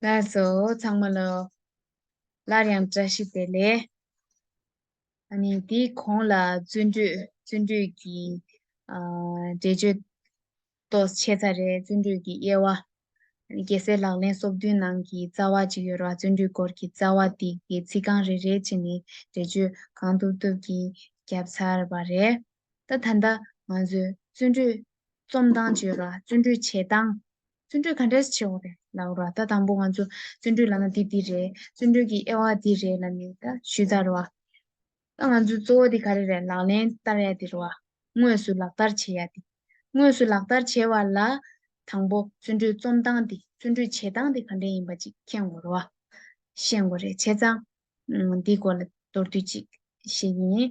སླར་སོ་ཚང་མ་ལ། སླར་ཡང་བཀྲ་ཤིས་བདེ་ལེགས། ཨ་ནི་དེའི་གོང་ལ་བརྩོན་འགྲུས་བརྩོན་འགྲུས་ཀྱི་འགྲེལ་བརྗོད་ཏོས་ཆེ་ཚ་རེད་བརྩོན་འགྲུས་ཀྱི་དབྱེ་བ། རྒྱལ་སྲས་ལག་ལེན་སོ་བདུན་ནང་གི་རྩ་བ་གཅིག་ཡོད་ར་བརྩོན་འགྲུས་སྐོར་གྱི་རྩ་བ་དེ་གི་ཚིག་རྐང་རེ་རེ་བྱས་ནས་འགྲེལ་བརྗོད་གང་ཐུབ་ཐུབ་ཀྱིས་བརྒྱབ་ཚར་བ་རེད། ད་ད་ལྟ་ང་ཚོས་བརྩོན་འགྲུས་རྩོམ་སྟངས་བྱེད་ར་བརྩོན་འགྲུས་བྱེད་སྟངས་བརྩོན་འགྲུས་ག་འདྲས་བྱེད་འོ་རེད་ལབ་ར་ད་དང་པོ་ང་ཚོ་བརྩོན་འགྲུས་ལབ་ན་འདི་འདི་རེད་བརྩོན་འགྲུས་ཀྱི་དབྱེ་བ་འདི་རེད་ལབ་ནས་ད་ཞུས་ད་ར་བ། ད་ང་ཚོའི་གཙོ་བོ་འདི་ག་རེ་རེད་ལག་ལེན་བསྟར་ཡ་འདི་ར་བ་དངོས་སུ་ལག་བསྟར་བྱེད་ཡ་འདི། དངོས་སུ་ལག་བསྟར་བྱེད་བ་ལ་དང་པོ་བརྩོན་འགྲུས་རྩོམ་སྟངས་འདི་བརྩོན་འགྲུས་བྱེད་སྟངས་འདི་ག་འདྲས་ཡིན་པ་ཅིག་མཁྱེན་དགོས་ར་བ། ཤེས་དགོས་རེད་བྱས་ཙང་འདིའི་སྐོར་ལ་མདོར་བསྡུས་ཅིག་བཤད་ཀྱིན།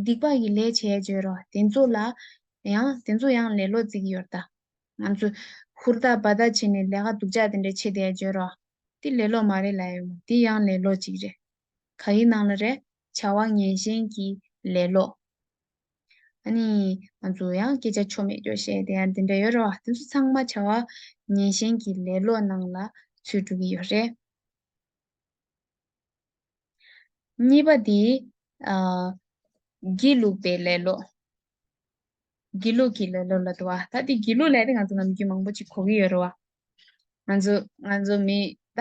སྡིག་པ་ཡི་ལས་བྱས་བརྗོད་རོ། དེ་ཚོ་ལ་ཡང་དེ་ཚོ་ཡང་ལེ་ལོ་རྩིག་ཡོར་ད། ང་ཚོས་ཧུར་ཐག་འབའ་ཐག་བྱས་ནས་ལས་ཀ་སྡུག་ཅག་དེ་འདྲ་བྱེད་དེ་བརྗོད་རོ། དེ་ལེ་ལོ་མ་རེད་ལ་ཡོད་མོད་དེ་ཡང་ལེ་ལོ་ཅིག་རེད། ག་ཡི་ནང་ལ་རེད། བྱ་བ་ངན་ཞན་གྱི་ལེ་ལོ། ཨ་ནི། ང་ཚོས་ཡང་སྐད་ཆ་ཆོ་མེད་ཀྱོ་བཤད་དེ་ཡང་དེ་འདྲ་ཡོད་རེད་བ། དེ་ཚོ་ཚང་མ་བྱ་བ་ངན་ཞན་གྱི་ལེ་ལོ་ནང་ལ་ཚུད་འགྲོ་གི་ཡོད་རེད། གཉིས་པ་འདི། སྒྱིད་ལུག་པའི་ལེ་ལོ། སྒྱིད་ལུག་གི་ལེ་ལོ་ལ་དུ་བ། ད་དེ་སྒྱིད་ལུག་ལས་དེ་ང་ཚོ་ནམ་རྒྱུན་མང་པོ་ཅིག་གོ་གི་ཡོད་རེད་བ། ང་ཚོ་ང་ཚོ་མི་ད་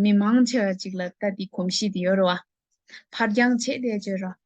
མི་མང་ཆེ་བ་ཅིག་ལ་ད་དེ་གོམས་གཤིས་དེ་ཡོད་རེད་བ། ཕར་འགྱངས་བྱས་བསྡད་བྱོས་རོགས།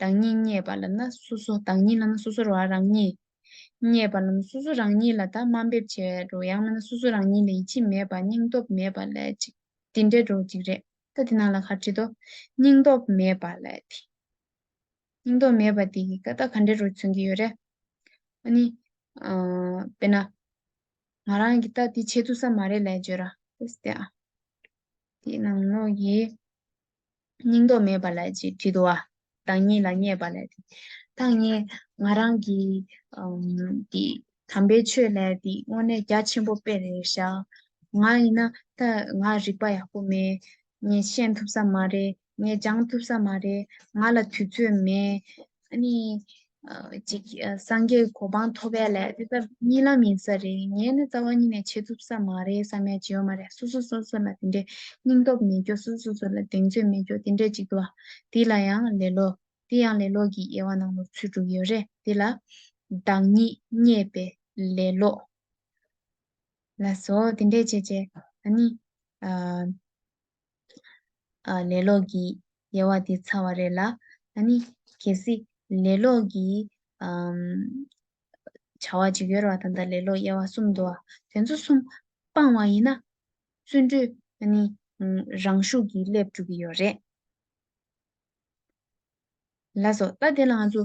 བདག་ཉིད་བརྙེས་པ་ལ་ན་སོ་སོ་བདག་ཉིད་ལ་ན་སོ་སོར་བ་རང་ཉིད། བརྙེས་པ་ལ་ན་སོ་སོ་རང་ཉིད་ལ་དག་སྨྲ་འབེབས་བྱེད་བའི་རོ་ཡང་ན་ན་སོ་སོ་རང་ཉིད་ལ་ཡིད་ཆེས་མེད་པ་སྙིང་སྟོབས་མེད་པ་ལས་ཅིག། འདི་འདྲའི་འགྲོ་འཇིག་རེ་ད་དེ་རྣམས་ལ་གར་བྱེད་དོ། སྙིང་སྟོབས་མེད་པ་ལས་དེ། སྙིང་སྟོབས་མེད་པ་དེ་གི་ཀ་དག་ག་འདྲའི་རོ་མཚོན་གྱི་ཡོད་རེ། ཨ་ནི། དཔེར་ན། ང་རང་གི་ད་དེ་བྱེད་ཐུབ་ས་མ་རེད་ལས་བརྗོད་ར། ཨོ་སྟེ་ཨ། དེ་རྣམས་ནོ་ཡིས། སྙིང་སྟོབས་མེད་པ་ལ་ཅིག་དྲི་དུ་བ། བདག་ཉིད་ལ་བརྙས་པ་ལས་ཏེ། བདག་ཉིད་ང་རང་གི། འདི། དམ་པའི་ཆོས་ལས་འདི་དངོས་གནས་རྒྱ་ཆེན་པོ་དཔེ་རེ་བཞག། ང་ཡིན་ན་ད་ང་རིག་པ་ཡག་པོ་མེད། ངས་ཤེས་ཐུབ་ས་མ་རེད། ངས་སྦྱང་ཐུབ་ས་མ་རེད། ང་ལ་དུས་ཚོད་མེད། ཨ་ནི། ཅིག། སངས་རྒྱས་གོ་འཕང་ཐོབ་པའི་ལས་དེ་ལྟར་གཉིས་ལམ་ཡིན་ས་རེད། ངས་ནི་རྩ་བ་ཉིད་ནས་བྱེད་ཐུབ་ས་མ་རེད་བསམ་ཡ་བྱེད་འོ་མ་རེད་སོ་སོ་སོ་སོ་ལ་དེ་འདྲའི་སྙིང་སྟོབས་མེད་རྒྱུ་སོ་སོ་སོ་ལ་གདེང་ཚོད་མེད་རྒྱུ་དེ་འདྲའི་ཅིག་འདུག་ཨ། དེ་ལ་ཡང་ལེ་ལོ། དེ་ཡང་ལེ་ལོ་གྱི་དབྱེ་བ་ནང་ལོག་ཚུལ་དྲུག་ཡོད་རེད་དེ་ལ། བདག་ཉིད་རྙེད་པའི་ལེ་ལོ། ལ་སོགས་དེ་འདྲའི་བྱས་བྱས། ཨ་ནི། ལས་ལོག་གི་དབྱེ་བ་དེ་ཚར་བ་རེད་ལ། ད་ནི་གལ་སྲིད་ལས་ལོག་གི་བྱ་བ་ཅིག་ཡོད་རེ་བ་དང་ད་ལས་ལོག་དབྱེ་བ་གསུམ་འདུག་བ་དེ་ཚོ་གསུམ་སྤང་བ་ཡིན་ན་བརྩོན་འགྲུས་ད་ནི་རང་ཤུགས་ཀྱིས་སླེབས་འགྲོ་གི་ཡོད་རེད་ལ་སོ། ད་དེ་ལ་ང་ཚོ་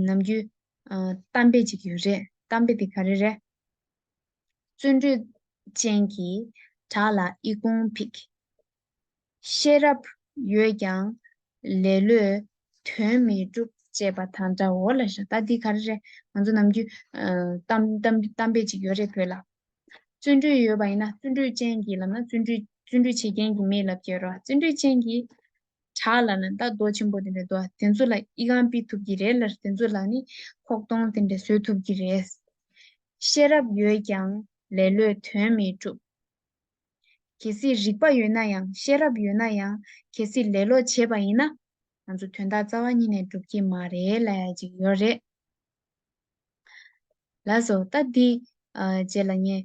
ནམ་རྒྱུན་གཏམ་དཔེ་ཅིག་ཡོད་རེད་གཏམ་དཔེ་དེ་ག་རེ་རེད། བརྩོན་འགྲུས་ཅན་གྱི་བྲག་ལ་ཨི་ཀུང་ཕིག། ཤེས་རབ་ཡོད་ཀྱང་ལེ་ལོས་དོན་མི་འགྲུབ། ཅེས་པ་དང་འདྲའོ་ལ་ཤ་ད་འདི་ག་རེ་རེད་ང་ཚོ་ནམ་རྒྱུན་གཏམ་དཔེ་ཅིག་ཡོད་རེད་བོད་ལ། བརྩོན་འགྲུས་ཡོད་པ་ཡིན་ན་བརྩོན་འགྲུས་ཅན་གྱིས་ལབ་ན་བརྩོན་འགྲུས་བྱེད་མཁན་གྱི་མིས་ལབ་ཀྱི་རོ་བརྩོན་འགྲུས་ཅན་གྱིས་བྲག་ལ་ན་ད་རྡོ་ཆེན་པོ་དེ་འདྲ་འདུག་དེ་ཚོ་ལ་ཨི་གང་སྤི་ཐུབ་ཀྱི་རེད་ལར་དེ་ཚོ་ལ་ནི་ཁོག་སྟོང་དེ་འདྲ་བཟོས་ཐུབ་ཀྱི་རེད། ཤེས་རབ་ཡོད་ཀྱང་ལེ་ལོས་དོན་མི་གྲུབ། གལ་སྲིད་རིག་པ་ཡོད་ན་ཡང་ཤེས་རབ་ཡོད་ན་ཡང་གལ་སྲིད་ལེ་ལོ་བྱེད་པ་ཡིན་ན་ང་ཚོ་དོན་དག་རྩ་བ་ཉིད་ནས་འགྲུབ་ཀྱི་མ་རེད་ལ་ཅིག་ཡོད་རེད། ལ་སོ་ད་འདི་རྗེས་ལ་ངས་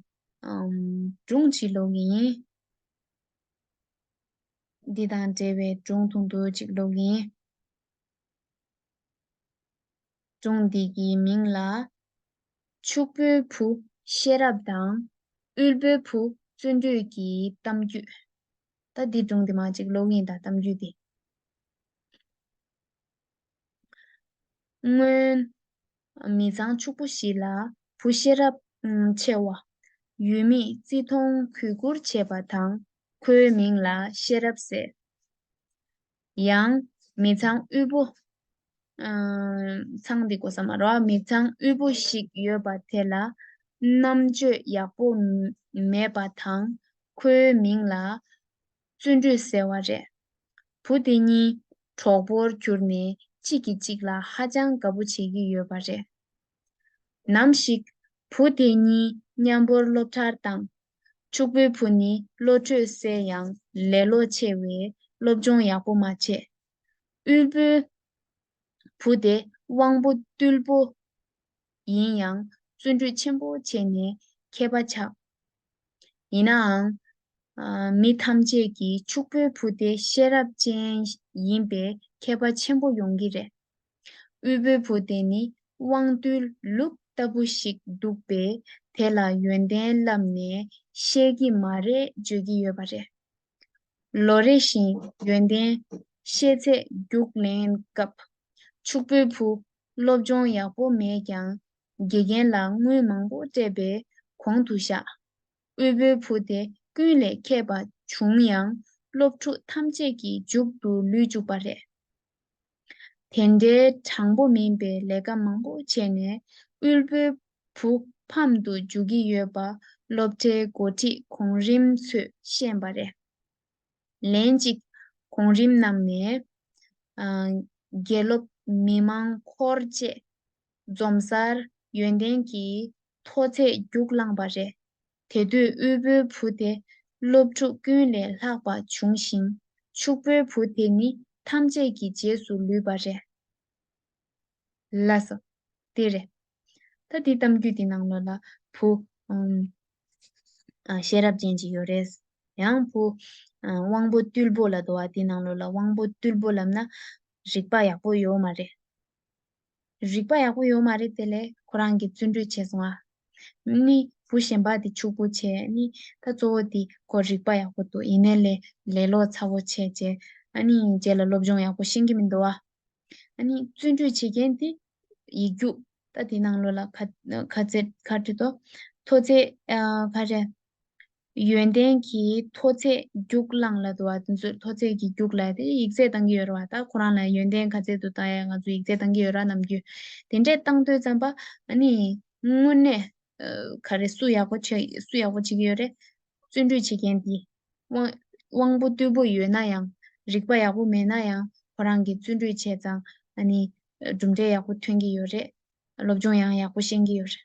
སྒྲུང་བྲིས་ལོག་གི་ཡིན། འདི་དང་འབྲེལ་བའི་སྒྲུང་ཐུང་དུ་གཅིག་ཀློག་ཡིན། སྒྲུང་འདི་ཀྱི་མིང་ལ། ཕྱུག་པོའི་བུ་ཤེས་རབ་དང་དབུལ་པོའི་བུ་བརྩོན་འགྲུས་ཀྱི་གཏམ་རྒྱུད། ད་འདི་སྒྲུང་དེ་མ་གཅིག་ཀློག་ཡིན་ད་གཏམ་རྒྱུད་དེ། སྔོན། མི་ཚང་ཕྱུག་པོ་ཞིག་ལ་བུ་ཤེས་རབ་ཆེ་བ་ཡུལ་མིས་བརྩི་མཐོང་གུས་བཀུར་བྱེད་པ་དང་ཁོའི་མིང་ལ་ཤེས་རབ་ཟེར། ཡང། མི་ཚང་དབུལ་པོ། ཚང་འདི་གོ་ས་མ་རོགས། མི་ཚང་དབུལ་པོ་ཞིག་ཡོད་པ་དེ་ལ་རྣམ་དཔྱོད་ཡག་པོ་མེད་པ་དང་ཁོའི་མིང་ལ་བརྩོན་འགྲུས་ཟེར་བ་རེད། བུ་དེ་གཉིས་གྲོགས་པོར་གྱུར་ནས་གཅིག་གིས་གཅིག་ལ་ཧ་ཅང་དགའ་པོ་བྱེད་ཀྱི་ཡོད་པ་རེད། ནམ་ཞིག་བུ་དེ་གཉིས་མཉམ་པོར་སློབ་གྲྭར་བཏང། ཕྱུག་པོའི་བུ་ནི་བློ་གྲོས་གསལ་ཡང་ལེ་ལོ་ཆེ་བས་སློབ་སྦྱོང་ཡག་པོ་མ་བྱས། དབུལ་པོའི་བུ་དེ་དབང་པོ་རྟུལ་པོ་ཡིན་ཡང་བརྩོན་འགྲུས་ཆེན་པོ་བྱས་ནས་མཁས་པ་ཆགས། ཡིན་ནའང། མི་ཐམས་ཅད་ཀྱིས་ཕྱུག་པོའི་བུ་དེ་ཤེས་རབ་ཅན་ཡིན་པས་མཁས་པ་ཆེན་པོ་ཡོང་གི་རེད། དབུལ་པོའི་བུ་དེ་ནི་དབང་རྟུལ་ལུགས་ལྟ་བུ་ཞིག་འདུག་པས་དེ་ལ་ཡོན་ཏན་བསླབས་ནས་ཤེས་ཀྱི་མ་རེད་བརྗོད་ཀྱི་ཡོད་པ་རེད། ལོ་རེ་བཞིན་ཡོན་ཏན་ཤེས་ཚད་རྒྱུགས་ལེན་སྐབས། ཕྱུག་པོའི་བུ་སློབ་སྦྱོང་ཡག་པོ་མེད་ཀྱང་དགེ་རྒན་ལ་དངུལ་མང་པོ་སྤྲད་པས་གོང་དུ་བཞག། དབུལ་པོའི་བུ་དེ་ཀུན་ལས་མཁས་པ་བྱུང་ཡང་སློབ་ཕྲུག་ཐམས་ཅད་ཀྱི་མཇུག་ཏུ་ལུས་བཅུག་པ་རེད། དེ་འདྲའི་དྲང་པོ་མིན་པའི་ལས་ཀ་མང་པོ་བྱས་ནས་དབུལ་པོའི་བུ་ཕམ་དུ་འཇུག་གི་ཡོད་པ་སློབ་གྲྭའི་འགོ་ཁྲིད་གོང་རིམ་ཚོས་ཤེས་པ་རེད། ལན་གཅིག་གོང་རིམ་རྣམས་ནས། དགེ་སློབ་མི་མང་འཁོར་བཅས་འཛོམས་སར་ཡོན་ཏན་གྱི་མཐོ་ཚད་རྒྱུགས་བླངས་པ་རེད། དེ་དུས་དབུལ་པོའི་བུ་དེ་སློབ་ཕྲུག་ཀུན་ལས་ལྷག་པ་བྱུང་ཞིང། ཕྱུག་པོའི་བུ་དེ་ནི་ཐམས་ཅད་ཀྱི་རྗེས་སུ་ལུས་པ་རེད། ལ་སོ། དེ་རེད། ད་དེའི་གཏམ་རྒྱུད་དེ་ནང་ལོ་ལ་བུ། ཤེས་རབ་ཅན་ཅིག་ཡོད་རེད། ཡང་བུ། དབང་པོ་རྟུལ་པོ་ལ་དོ་བ་དེའི་ནང་ལོ་ལ་དབང་པོ་རྟུལ་པོ་ལབ་ན། རིག་པ་ཡག་པོ་ཡོད་མ་རེད། རིག་པ་ཡག་པོ་ཡོད་མ་རེད་དེ་ལས་ཁོ་རང་གི་བརྩོན་འགྲུས་ཆེ་སོང་ཨ། ནི་བུ་གཞན་པ་དེ་ཕྱུག་པོ་བྱས་ཨ་ནི་ད་གཙོ་བོ་དེ་ཁོ་རིག་པ་ཡག་པོ་འདུག་ཡིན་ནའི་ལས་ལས་ལོག་ཚ་བོ་བྱས་རྗེས་ཨ་ནི་རྗེས་ལ་སློབ་སྦྱོང་ཡག་པོ་ཤེས་ཀྱི་མི་འདུག་ཨ། ཨ་ནི་བརྩོན་འགྲུས་བྱེད་མཁན་དེ་ཡིག་རྒྱུགས་ད་དེ་ནང་ལོ་ལ་ཁ་ཁ་ཁ་ཁྲི་ཐོ་ཐོ་ཚེ་ཨ་ཁ་རེ། ཡོན་ཏན་གྱི་མཐོ་ཚད་རྒྱུགས་བླངས་ལ་དུ་བ་དེ་ཚོའི་མཐོ་ཚད་ཀྱི་རྒྱུགས་ལ་དེ་ཡིག་ཚད་གཏང་གི་ཡོད་ར་བ་ད་ཁོ་རང་ལ་ཡོན་ཏན་ག་ཚད་དུ་བཏང་ཡག་ང་ཚོ་ཡིག་ཚད་གཏང་གི་ཡོད་ར་ནམ་རྒྱུ་དེ་འདྲས་བཏང་འདོད་ཙམ་པ་ཨ་ནི་དངོས་གནས་ག་རེ་སུ་ཡག་པོ་བྱེད་སུ་ཡག་པོ་བྱེད་ཀྱི་ཡོད་རེད་བརྩོན་འགྲུས་བྱེད་མཁན་དེ་དབང་པོ་རྟུལ་པོ་ཡོད་ན་ཡང་རིག་པ་ཡག་པོ་མེད་ན་ཡང་ཁོ་རང་གི་བརྩོན་འགྲུས་བྱས་ཙང་ཨ་ནི་གྲུབ་འབྲས་ཡག་པོ་ཐོན་གྱི་ཡོད་རེད་སློབ་སྦྱོང་ཡང་ཡག་པོ་ཤེས་ཀྱི་ཡོད་རེད།